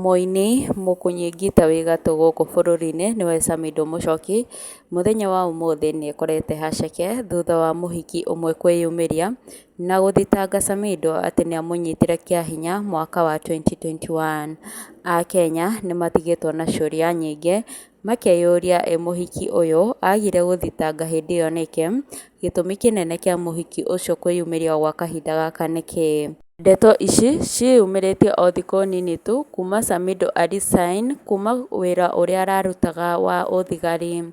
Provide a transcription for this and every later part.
Mũini mũkunyi ngita wĩ gatũ gũkũ bũrũri-inĩ nĩwe Samido Mũchoki, mũthenya wa ũmũthĩ nĩ ekorete haceke thutha wa mũhiki ũmwe kwĩyumĩria na gũthitanga Samido atĩ nĩ amũnyitire kĩa hinya mwaka wa 2021. Akenya nĩ matigĩtwo na ciũria nyingĩ Makeyũria ĩ mũhiki ũyũ agire gũthitanga hĩndĩ ĩyo nĩkĩ? Gĩtũmi kĩnene kĩa mũhiki ũcio kwĩyumĩria gwa kahinda gaka nĩ kĩĩ? Ndeto ici ciyumĩrĩtie o thikũ nini tu kuma Samidoh Ali Sain kuma wĩra ũrĩa ararutaga wa ũthigari.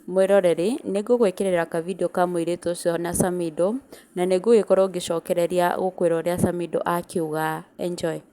Mwĩroreri nĩ ngũgwĩkĩrĩra ka video ka mũirĩtu ũcio na Samidoh na nĩ ngũgĩkorwo ngĩcokereria gũkwĩra ũrĩa Samidoh akiuga. Enjoy.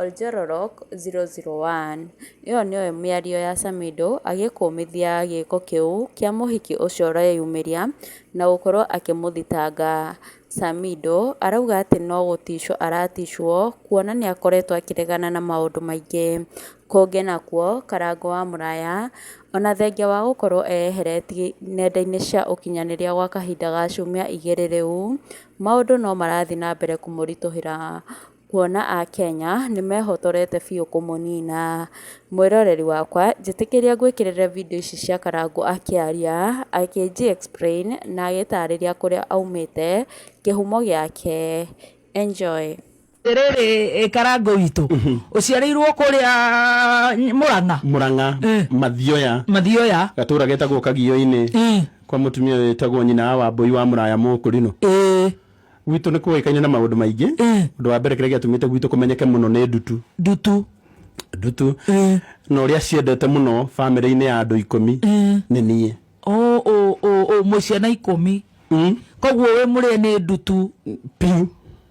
#Oljororok001: Ĩyo nĩyo mĩario ya Samidoh agĩkũmithia gĩĩko kĩu kĩa mũhiki ũcio ũreyumĩria na gũkorwo akĩmũthitanga Samidoh arauga atĩ no gũticwo araticwo kuona nĩakoretwo akĩregana na maũndũ maingĩ kũngĩ nakuo Karangũ wa Mũraya ona thengia wa gũkorwo eyeheretie nenda-inĩ cia ũkinyanĩria gwa kahinda ga ciumia igĩrĩ rĩu Maũndũ no marathiĩ na mbere kũmũritũhĩra kuona Akenya nĩ mehotorete biũ kũmũnina. Mwĩroreri wakwa njĩtĩkĩria ngwĩkĩrĩre video ici cia Karangũ akĩaria, akĩnji explain na agĩtarĩria kũrĩa aumĩte, kĩhumo gĩake. Enjoy. rĩrĩ karango witũ mhm. ũciarĩirwo kũrĩa mũrang'a mũrang'a eh. mathioya mathioya gatũra getagwo kagio-inĩ eh. kwa mũtumia wĩtagwo nyina wa wambũi wa mũraya mũkũrinũ eh. gwitũ nĩ kũĩkaine na maũndũ maingĩ ũndũ wa mbere kĩrĩa gĩatũmĩte gwitũ kũmenyeke mũno nĩ ndutu ndutu ndutu na ũrĩa ciendete mũno bamĩrĩ-inĩ ya andũ ikũmi nĩ niĩ mũciana ikũmi mm. koguo wĩ mũrĩa nĩ ndutu piu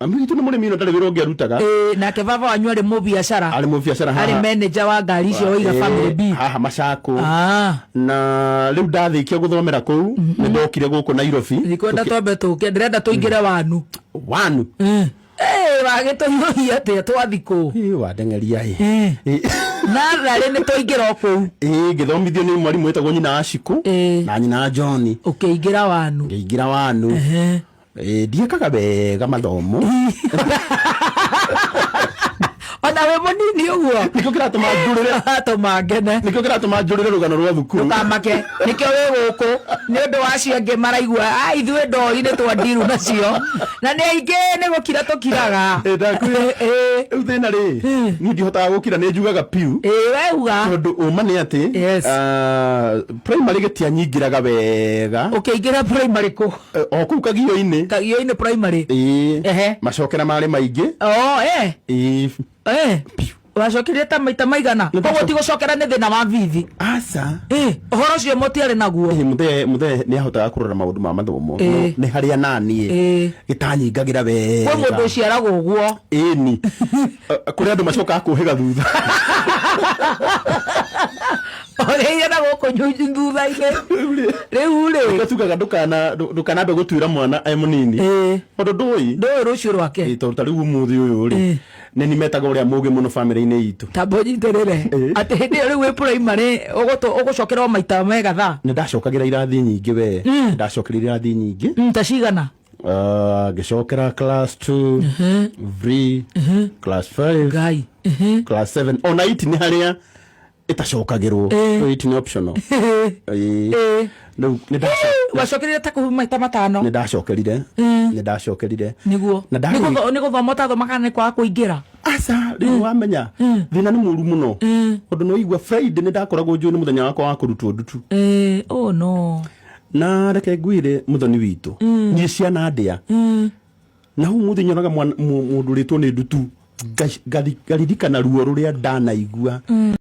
Mami witũ nĩ mũrĩmi na ndarĩ wĩra ũngĩ arutaga. Ĩĩ, nake baba wanyu arĩ mũbiacara Arĩ mũbiacara haha. arĩ manager wa ngari icio oiga Ĩĩ, family B Haha macakũ. Ah, Na rĩu ndarĩkia gũthomera kũu nĩ ndokire gũkũ Nairobi. ndikwenda twambe tũke ndĩrenda tũingĩre wanu Wanu. Eh. Eh, wagĩtũhiũhia atĩa twathikũ Ĩĩ, wandengeria ĩ. Eh. Ĩĩ. natharĩ nĩ twaingĩra o kũu Ĩĩ, ngĩthomithio nĩ mwarimũ wĩtagwo nyina wa Cikũ Ĩĩ. na nyina wa John. ũkĩingĩra wanu ngĩingĩra wanu Ehe. Eh, ndiĩkaga wega mathomo ona wĩ mũnini ũguo nĩkĩo kĩratũma njũrĩre atũma ngene nĩkĩo kĩratũma njũrĩre rũgano rwa thukuru ndũkamake nĩkĩo wĩ gũkũ nĩ ũndũ wa acio angĩ maraigua a ithuĩ ndori nĩ twandiru nacio na nĩ aingĩ nĩ gũkira tũkiraga Eh, ndakwĩra. Ĩ, rĩu thĩna rĩ niĩ ndihotaga gũkira nĩ njugaga piu ĩ, weuga tondũ ũma nĩ atĩ Yes. ah, primary gĩtianyingĩraga wega ũkĩingĩra primary kũ Eh, o kũu kagio-inĩ kagio-inĩ primary Ĩĩ. Ehe. macokera marĩ maingĩ oo eh Ĩĩ. eh wacokirie ta maita maigana Nĩ koguo ndacoka- ti gũcokera nĩ thĩna wa bithi aca Eh, ũhoro ũcio mũtiarĩ naguo mũthee mũthee nĩ ahotaga kũrora maũndũ ma mathomo Ĩĩ. No, nĩ harĩa naniĩ Ĩĩ. gĩtanyingagĩra wega kwĩ mũndũ ũciaragwo ũguo ĩni kũrĩ andũ macokaga kũhĩga thutha orĩire na gũkũ nyunyu thutha-inĩ rĩu rĩ gatugaga ndukana ndukanambe gutuira mwana e munini Eh. tondu ndui ndũĩ rũciũ rwake Eh, tondu ta riu umuthi uyu ri Eh. ni ni metaga uria mugi muno family-ini itu tamba ũnyitĩrĩre Eh. atĩ hĩndĩ ĩyo rĩu wĩ primary ũgũtũ- ũgũcokerwo maita mega thaa ni ndacokagira irathi nyingi we ndacokire irathi nyingi Mm, ta cigana Ah, ngĩcokera class 2 3 class 5 ngai class 7 ona iti nĩ harĩa ĩtacokagĩrwo Eh. Wait, ni optional Ĩĩ. Eh. Rĩu nĩ ndaco- wacokerire ta kũhuma maita matano nĩ ndacokerire Mm. nĩ ndacokerire niguo Na ndarĩ- Nĩgũtho- nĩgũthoma ũtathomaga nĩ kwaga kũingĩra aca rĩu wamenya Mm. thĩna nĩ mũru mũno Mm. tondũ nĩ waigua friday nĩ ndakoragwo njũĩ nĩ mũthenya wakwa wa kũrutwo ndutu Eh, oh no na reke ngwĩre mũthoni witũ Mm. niĩ ciana ndĩa Mm. na hau mũthĩ nyonaga mwana- mũ- mũndũ ũrĩtwo nĩ ndutu ngash- ngathi- ngaririkana ruo rũrĩa ndanaigua